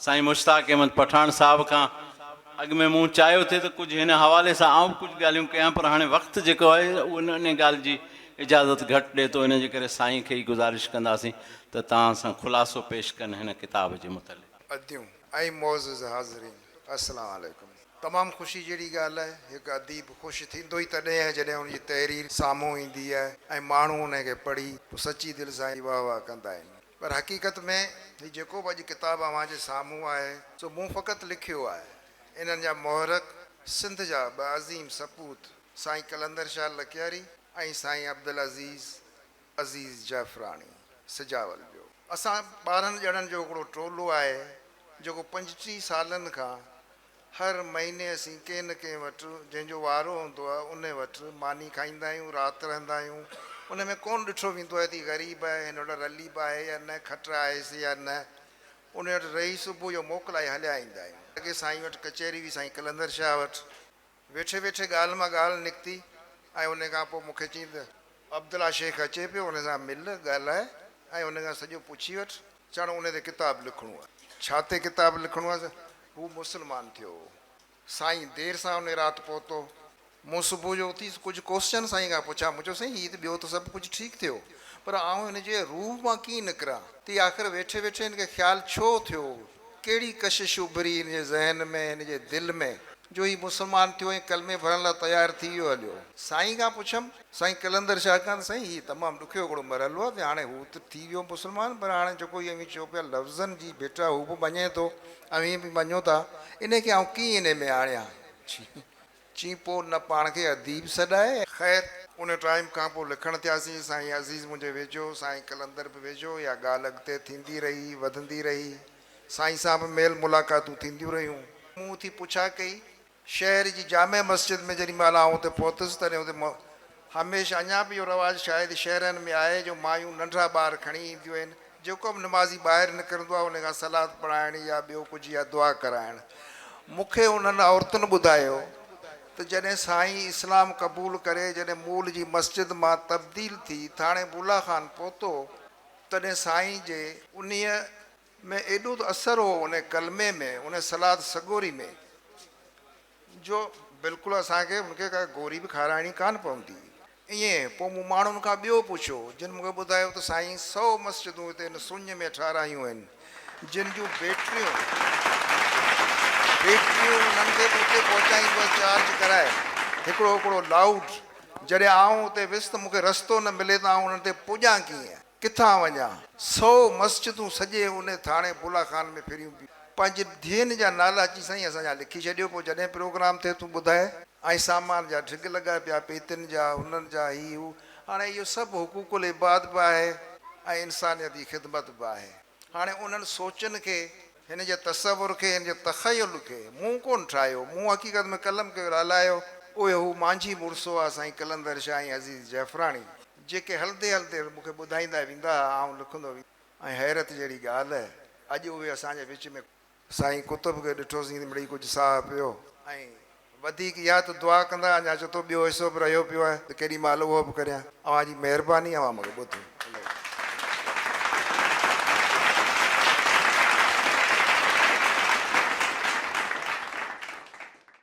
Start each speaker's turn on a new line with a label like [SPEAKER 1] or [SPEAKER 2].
[SPEAKER 1] سائين مشتاق احمد پٺاڻ صاحب کان اڳ ۾ مون چاهيو ٿي ته ڪجهه هن حوالي سان آئون به ڪجهه ڳالهيون ڪيان پر هاڻي وقت جيڪو آهي اهو ان ان ڳالهه جي اجازت گهٽ ڏئي ٿو ان جي ڪري سائين کي ئي گذارش ڪنداسين ته توهان سان خلاصو پيش ڪن هن ڪتاب جي متعلق. اديون ۽
[SPEAKER 2] معزز حاضرين! السلام عليڪم. تمام خوشي جهڙي ڳالهه آهي. هڪ اديب خوش ٿيندو ئي تڏهن آهي جڏهن ان جي تحرير سامهون ايندي آهي ۽ ماڻهو ان کي پڙهي پوء سچي دل سان ئي واهه واهه ڪندا آهن. پر حقيقت ۾ هي جيڪو به اڄ ڪتاب اوهان جي سامهون آهي سو مون فقط لکيو آهي. انهن جا محرڪ سنڌ جا ٻه عظيم سپوت سائين قلندر شال لڪياري ۽ سائين عبدالعزيز عزيز جعفراڻي سجاول جو اسان ٻارهن ڄڻن جو هڪڙو ٽولو آهي جيڪو پنجٽيهه سالن کان هر مهيني اسين ڪنهن نه ڪنهن وٽ جنهن جو وارو هوندو آهي ان وٽ ماني کائيندا آهيون رات رهندا آهيون ان ۾ ڪونه ڏٺو ويندو آهي ته هي غريب آهي هن وٽ رليب آهي يا نه کٽ آهيس يا نه ان وٽ رهي صبح جو موڪلائي هليا ايندا آهيون اڳي سائين وٽ ڪچهري هئي سائين قلندر شاهه وٽ ويٺي ويٺي ڳالهه مان ڳالهه نڪتي ۽ ان کان پوء مون کي چيائين ته. عبدالله شيخ اچي پيو، ان سان مل، ڳالهاء ۽ ان کان سڄو پڇي وٺ. چاڻ ان تي ڪتاب لکڻو آهي. ڇا تي ڪتاب لکڻو آهي؟ هو مسلمان ٿيو هو. سائين دير سان ان رات پهتو. مون صبح جو اٿيس ڪجهه ڪوسچن سائين کان پڇيا. مون چيو سائين هي ته ٻيو ته سڀ ڪجهه ٺيڪ ٿيو پر آئون هن جي روح مان ڪيئن نڪران؟ تي آخر ويٺي ويٺي هن کي خيال ڇو ٿيو؟ ڪهڙي ڪشش اڀري هن جي ذهن ۾، هن جي دل ۾، جو هي مسلمان ٿيو ۽ ڪلمي ڀرڻ لاء تيار ٿي ويو هليو. سائين کان پڇيم، سائين قلندر شاهه کان ته سائين هي تمام ڏکيو هڪڙو مرحلو آهي ته هاڻي هو ته ٿي ويو مسلمان پر هاڻي جيڪو هي اوهين چئو پيا لفظن جي ڀٽا هو به مڃي ٿو اوهين به مڃو ٿا انهي کي آئون ڪيئن انهي ۾ آڻيان. چين پوء نه پاڻ کي اديب سڏائي. خير ان ٽائيم کان پوء لکڻ ٿياسين. سائين عزيز منهنجي ويجهو، سائين قلندر به ويجهو، اها ڳالهه اڳتي ٿيندي رهي، وڌندي رهي. سائين سان به ميل ملاقاتون ٿينديون رهيون. مون اٿي پڇا ڪئي. شهر جي جامع مسجد ۾ جڏهن مهل آئون اتي پهتس، تڏهن اتي هميشه اڃا به اهو رواج شايد شهرن ۾ آهي جو مايون ننڍڙا ٻار کڻي اينديون آهن، جيڪو به نمازي ٻاهر نڪرندو آهي ان کان صلات پڙهائڻ يا ٻيو ڪجهه يا دعا ڪرائڻ. مون کي انهن عورتن ٻڌايو ته جڏهن سائين اسلام قبول ڪري جڏهن مول جي مسجد مان تبديل ٿي ٿاڻي بولا خان پهتو تڏهن سائين جي. انهيء ۾ ايڏو ته اثر هو ان ڪلمي ۾، ان صلات سڳوري ۾. جو بلڪل اسان کي هن کي ڪا گوري به کارائڻي ڪانه پوندي. ائين پوء مون ماڻهن کان ٻيو پڇيو، جن مون کي ٻڌايو ته سائين سؤ مسجدون هتي هن سڃ ۾ ٺارايون آهن، جن جون بيٽريون بيٽريون انهن کي به اتي پهچائينديون آهن چارج ڪرائي هڪڙو هڪڙو لائوڊ. جڏهن آئون اتي ويس ته مون کي رستو نه ملي ته آئون انهن تي پڄان ڪيئن. ڪٿان وڃان؟ سؤ مسجدون سڄي ان ٿاڻي بولا خان ۾ ڦريون پيون. پنهنجي ڌيئن جا نالا اچي سائين اسان جا لکي ڇڏيو پوء جڏهن پروگرام ٿئي تون ٻڌاء. ۽ سامان جا ڍڳ لڳا پيا پيتين جا انهن جا هي هو هاڻي اهو سڀ حقوق العباد به آهي ۽ انسانيت جي خدمت به آهي هاڻي انهن سوچن کي هن جي تصور کي هن جي تخيل کي مون ڪون ٺاهيو مون حقيقت ۾ قلم ڪيو لالايو اهو هو مانجهي مڙسو آ سائين قلندر شاهه ۽ عزيز جعفراڻي. جيڪي هلندي هلندي مون کي ٻڌائيندا ويندا ها، آئون لکندو ويندس. ۽ حيرت جهڙي ڳالهه، اڄ اهي اسان جي وچ ۾ ڪونهن. سائين قطب کي ڏٺوسين ته مڙئي ڪجهه ساهه پيو. ۽ وڌيڪ اها ته دعا ڪندا اڃا چئو ٿو ٻيو حصو به رهيو پيو آهي ته ڪيڏي مهل اهو به ڪريان. اوهان جي مهرباني اوهان مون کي ٻڌو.